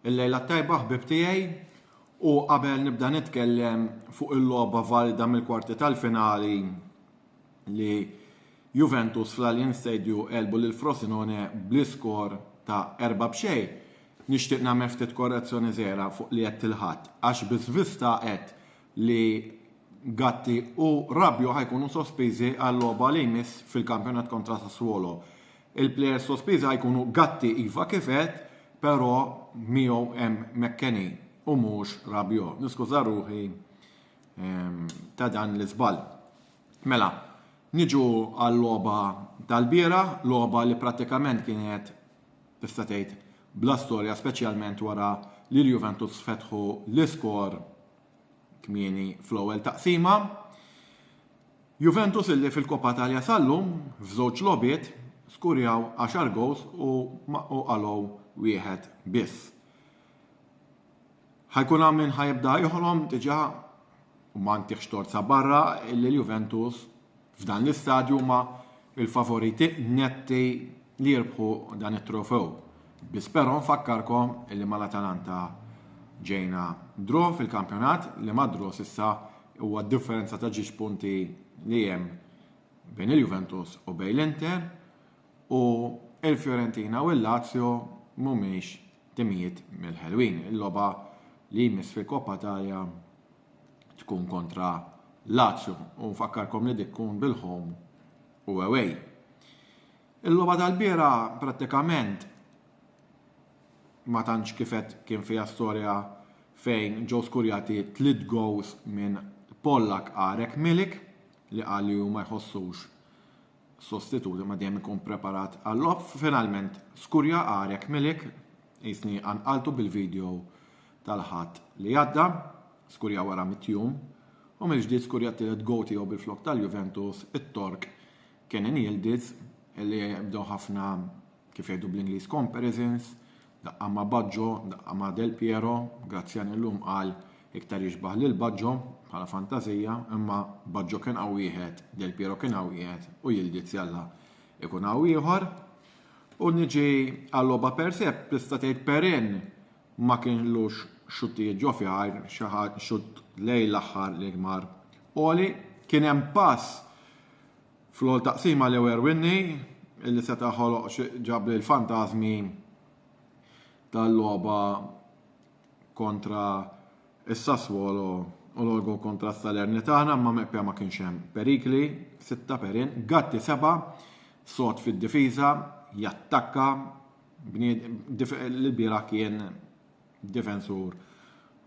Il-lejla tajba ħbib tiegħi u qabel nibda nitkellem fuq il-logħba valida mill-kwarti tal-finali li Juventus fl-Allianz Stadium elbu lil Frosinone bl-iskor ta' erba' b'xej. Nixtieq nagħmel ftit korrezzjoni żgħira fuq li għedt il-Ħadd, għax biss Vista għedt li Gatti u Rabiot ħa jkunu sospiżi għal-logħba li jmiss fil-kampjonat kontra Sassuolo. Il-plejers sospiżi ħa jkunu Gatti iva kif għedt, però miegħu hemm McKennie u mhux Rabiot. Niskuża ruħi ehm, ta' dan l-iżball. Mela, niġu għal-logħba tal-bieraħ, logħba li prattikament kienet tista' tgħid, bla storja speċjalment wara li l-Juventus fetħu l-iskor kmieni fl-ewwel taqsima. Juventus illi fil-Coppa Italia sal-lum f'żewġ logħbiet skurjaw 10 goals u qalgħu wieħed biss. Ħajkun hawn min ħajibda joħlom diġà u ma ntihx tort sa barra illi l-Juventus F'dan l-istadju huma l-favoriti netti li jirbħu dan it-trofew, biss però nfakkarkom li mal-Atalanta ġejna draw fil-kampjonat li mad-draw s'issa huwa d-differenza ta' ġiex punti li hemm bejn il-Juventus u bejn l-Inter u l-Fiorentina u l-Lazio mhumiex timijiet mill-ħelwin. Il-logħba li jmiss fil-Coppa Italia tkun kontra Lazio u nfakkarkom li dik tkun bil-home u away. Il-logħba tal-biera prattikament ma tantx kifet kien fiha storja fejn ġew skurjati tliet goals minn Pollak Arek Milik li qal li hu ma jħossux sostitut imma dejjem ikun preparat għall-logħob. Finalment skurja għarek Milik, jisni anqaltu bil-video tal-Ħadd li għadda, skurja wara mit-tjum u mill-ġdid skurja t-tielet goal tiegħu bil-flokk tal-Juventus, it-Tork Kenan Yildiz li bdew ħafna kif jgħidu bl-Ingliż comparisons Daqqa ma' Baġġo, daqqa ma' Del Piero, Grazzjani llum qal iktar jixbah lil Baġġo, bħala fantażija, imma Baġġo kien hawn wieħed, Del Piero kien hawn wieħed u Yildiz Jalla jkun hawn ieħor. U niġi għal-logħba per se, tista' tgħid Perin ma kienlux xuttijiet ġo fjar, xi ħadd xutt lejn l-aħħar li mar għoli, kien hemm pass Fl-ewwel taqsima Leo Erwinni li seta' ħoloq ġab lil fantażmi tal-logħba kontra s-Sassuolo u l-olgo kontra s-Salernitana imma meqpja ma kienx hemm perikli, sitta perin, Gatti seba' sod fid-difiża, jattakka, l-bieraħ kien difensur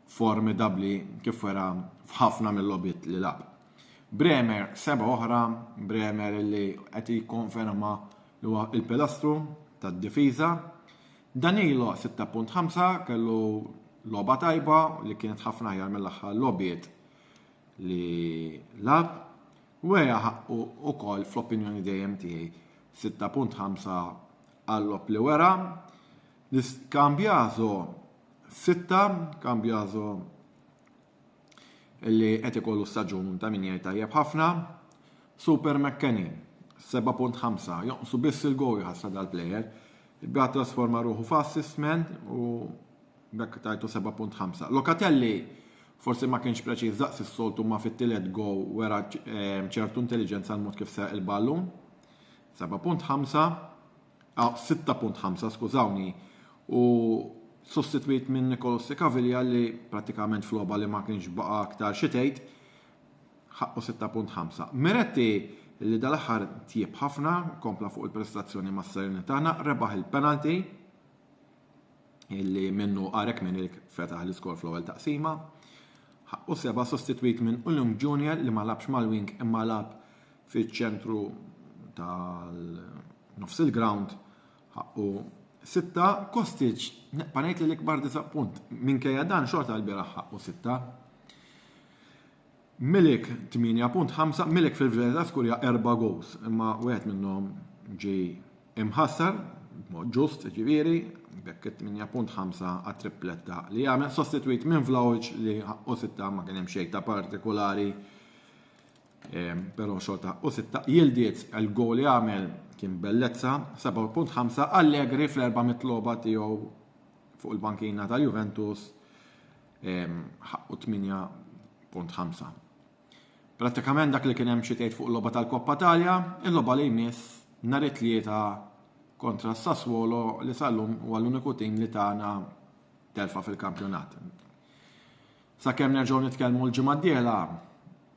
formidabbli kif wera f'ħafna mill-logħbiet li lagħab. Bremer seba' oħra, Bremer li qed jikkonferma li huwa l-pilastru tad-difiża. Danilo 6.5 kellu logħba tajba li kienet ħafna aħjar mill-aħħar logħbiet li lagħab. Wera ħaqqu wkoll fl-opinjoni dejjem tiegħi 6.5 għall-logħob li wera L-iscambiaso sitta, cambiaso li qed ikollu staġun ta' min jgħid tajjeb ħafna, Super McKenny, 7.5, jonqsu biss il-gow jħassa dal-plejer, bda trasforma ruħu f'assist man u bekk tajtu 7.5. Locatelli forsi ma kienx preċiż daqs is-soltu ma fit-tielet go wera eh, ċertu intelligenza l-mod kif seq il-ballun. 7.5 6.5 skużawni u sostitwit minn Nicolos De Caviglia li pratikament f'logħba li ma kienx baqa' aktar xi tgħid ħaqqu 6.5. Miretti li dal-aħħar tjieb ħafna, kompla fuq il-prestazzjoni mas-serenità, rebaħ il-penalty, illi minnu Arek Minnilk fetaħ l-iskor fl-ewwel taqsima. Ħaqqu seba' sostitwit minn Ulung Junior li ma labx mal-wing imma lab fiċ-ċentru tal-nofs il-ground ħaqqu sitta Kostic neqpa' ngħid li l-ikbar disappunt minkejja dan xorta l-bieraħ ħaqqu sitta. Milik 8.5 Milik fil-Gżejjer ta' Skurja erba' gowls, imma wieħed minnhom ġie imħassar, b'mod ġust jiġifieri, b'hekk it-8.5 għat-tripletta li għamel, sostitwit minn Vlahovic li ħaqqu sitta ma kien hemm xejn ta' partikolari, ehm, però xorta ħaqqu sitta. Jildiet il-gowl li għamel kien bellezza, 7.5 Allegri fl-erba' mitloba tiegħu fuq il-bankina tal-Juventus ħaqqu 8.5. Prattikament dak li kien hemm xi tgħid fuq logħba tal-Koppa Talja, il-logħba li jmiss nhar it-tlieta kontra s-Sassuolo li sallum huwa l-uniku tim li tagħna telfa fil-kampjonat. Sakemm nerġgħu nitkellmu l-ġimgħa d-dieħla,